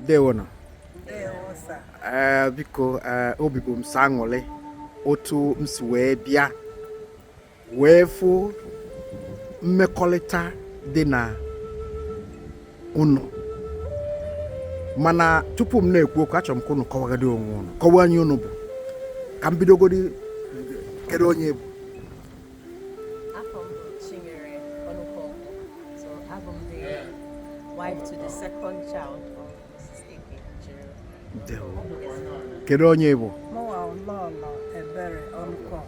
ndewonụ ee eh, biko eh, obi bụ m sọ aṅụrị otu m si wee bịa wee fụ mmekọrịta dị na ụnụ mana tupu m na-ekwu okwu achọrọ m ka ụnụ kọwagodi onwe ụnụ kọwaa onye ụnụ bụ ka m bidogodi kedu onye bụ wife to the second child of Mrs. Ike Chiro. Kedu onye bụ? Mụwa ụlọ ụlọ ebere ọnụkọk.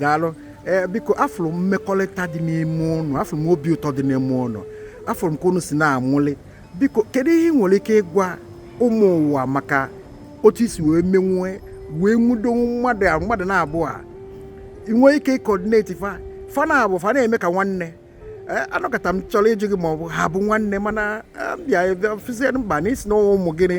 daalụ ee biko afụrụ m mmekọrịta dị n'ime ụnụ afụrụ m obi ụtọ dị n'ime ụnụ afụrụ m ka ụnụ si na-amụli biko kedu ihe ị nwere ike ịgwa ụmụ ụwa maka otu i si wee menwue wee nwudo mmadụ a mmadụ naabọ a ị nwee ike ịcoordinate fa fa naabọ fa na-eme ka nwanne Eh, anọkọta m chọrọ ịjụ gị ma ọ bụ ha bụ nwanne mana eh, bịa fụzie mba na isi na ụmụ gịnị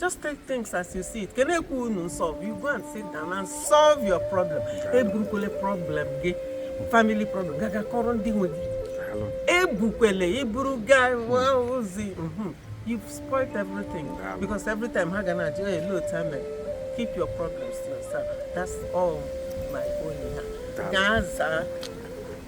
just take things as you see it ka na-ekwu unu solve you go and sit down and solve your problem eburukwele problem gị family problem gaga kọrọ ndị nwe gị ebukwele i buru gaa ezi mhm. you've spoiled everything because every time ha ga na-ajụ ya ele otu ame keep your problems to yourself that's all my own ha gaa zaa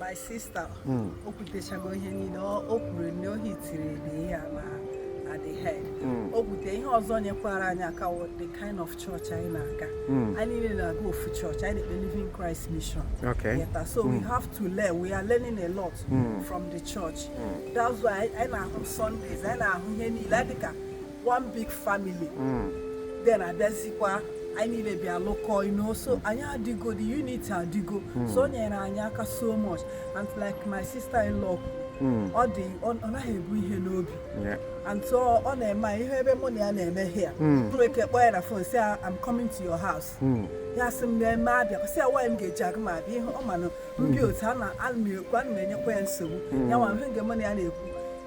my sister hmm. o kwutechago ihe niile o kwuru na o hitiri dị ya na na the head hmm. o kwute ihe ọzọ nyekwara anyị aka the kind of church anyị na-aga hmm. anyị niile na-aga ofu church anyị na-ekpe living christ mission ị ghọta so we have to learn we are learning a lot from the church that's why anyị na-ahụ sundays anyị na-ahụ ihe niile dịka one big family hmm. then abịazikwa anyị niile bịa lụkọ ino so anyị adịgo the unity adịgo hmm. so o nyere anyị aka so much and like my sister in law hmm. ọ dị ọ naghị ebu ihe n'obi and so ọ na-eme ihe ebe mụ na ya na-eme here nwere ike kpọọ ya na phone say I'm coming to your house hmm. ya sị m eme abịa kwasị ya nwaanyị m ga-eji aga m abịa ihe ọ manụ ndị hmm. otu a na ana m ekwu ana m enyekwa ya nsogbu hmm. ya nwa ihe nke mụ na ya na-ekwu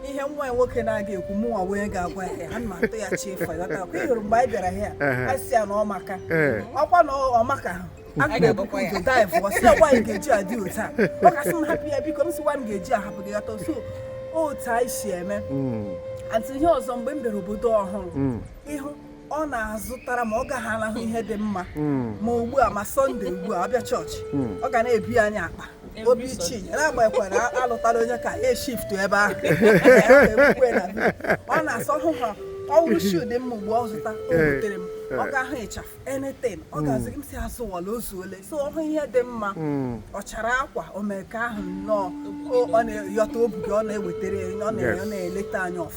ihe nwa nwoke na-aga ekwu mụ nwa wee ga-agwa ya ana m atụ ya chi ịfọ ya taa kwa ị hụrụ mgbe anyị bịara ya anyị si ya na ọ maka ọkwa na ọ maka ahụ aga m ebukwa ụzọ dive ọ sị ya nwaanyị ga-eji adị otu a ọ ka sị m hapụ ya biko m sị nwaanyị ga-eji ahapụ gị ghọta so otu anyị si eme atụ ihe ọzọ mgbe m bịara obodo ọhụrụ mm. ịhụ ọ na-azụtara ma ọ gaghị alahụ ihe dị mma hmm. ma ugbu a ma sunday ugbu a ọ bịa chọọchị hmm. ọ ga na-ebi anyị akpa obi ichi na-agbaghịkwa na alụtala onye ka e shiftu ebe ahụ ọ na-asọ hụ ha ọ wụrụ shuu dị mma ugbu ọ zụta o wetere m ọ gaa hụ ịchafụ anything ọ hmm. ga-azụ m sị azụwala o zuole so ọ hụ ihe dị mma hmm. ọ chara akwa o mee ka ahụ nnọọ ọ na-eyọta obi ọ na-ewetara ya ọ na-eleta anya ọfụ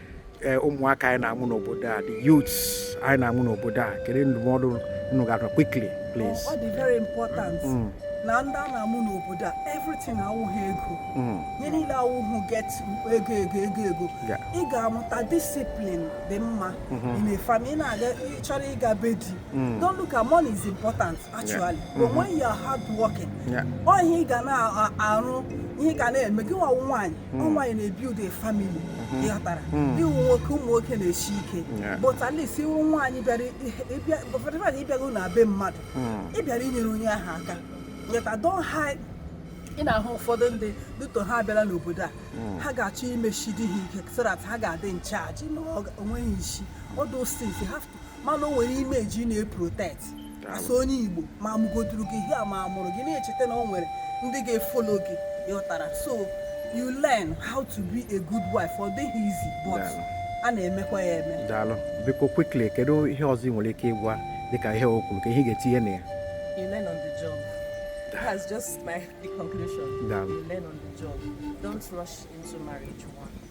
eh, ụmụaka anyị na-amụ n'obodo a the youths anyị na-amụ n'obodo a kedu ndụmọdụ unu ga-atụ quickly please ọ dị very important mm. na ndị a na-amụ n'obodo a everything awụghị ego mm. ihe niile awụghị get ego ego ego ego ị ga-amụta discipline dị mma mm-hmm. in a family ị na-aga chọrọ ịga be di mm. don't look at money is important actually but when you are hard working Yeah. ọ ihe ị ga na-arụ ihe ị ga na-eme gị nwa nwaanyị ọ nwaanyị na-ebuild a family ị ghọtara ị wụ nwoke ụmụ nwoke na-esi ike Yeah. but at least ị wụ nwaanyị bịara ị bịa ụfọdụ mmadụ ị bịago na be mmadụ ị bịara inyere onye ahụ aka yeta don hide ị na-ahụ ụfọdụ ndị dịtọ ha abịala n'obodo a ha ga-achọ imechi di ha ike so that ha ga-adị in charge na ọ ga- o nweghị isi all those things you have mana o nwere image ị na-eprotect as onye igbo ma a mụgoduru gị here ma a mụrụ gị na-echeta na o nwere ndị ga-efollow gị ị ghọtara so you learn how to be a good wife ọ dịghị easy but a na-emekwa ya eme daalụ biko quickly kedu ihe ọzọ ị nwere ike ịgwa dịka ihe o kwuru ke ihe ị ga-etinye na ya you learn on the job that's just my conclusion you learn on the job don't rush into marriage one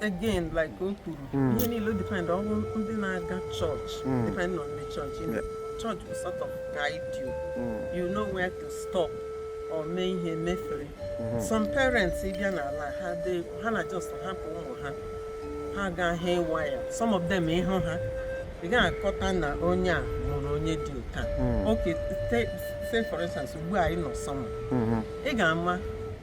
again like o kwuru hmm. ihe niile depend ọ wụ ndị na-aga chọọchị hmm. depend on the church in the church will sort of guide you hmm. you know where to stop or mee ihe mefere some parents ị bịa n'ala ha ha na just hapụ ụmụ ha ha gaa haywire some of them ị hụ ha ị gaghị aghọta na onye a mụrụ onye dịka okay say for instance ugbu a anyị nọ summer ị ga-ama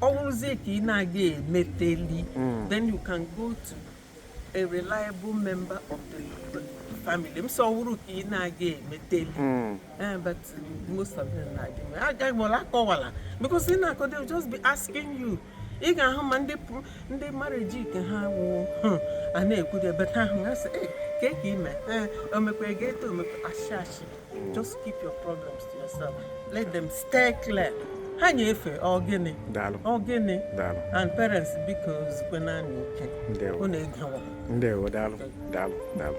ọ bụrụzie ka ị na-aga emeteli hmm. then you can go to a reliable member of the family m sọ wụrụ ka ị na-aga emeteli hmm. eh, but most of them na-adị mma agaghị m ọla akọwala because ị na-akọ they just be asking you ị ga-ahụ ma ndị ndị marriage nke ha wụ hmm, a na-ekwude better ahụ ha sị ka ị mee eh, omekwa ego eto omekwa ashị ashị just keep your problems to yourself let them stay clear ha nye efe ọ gịnị ọ gịnị and parents biko zukwenụnụ ike unu na-egewa ndewo daalụ daalụ daalụ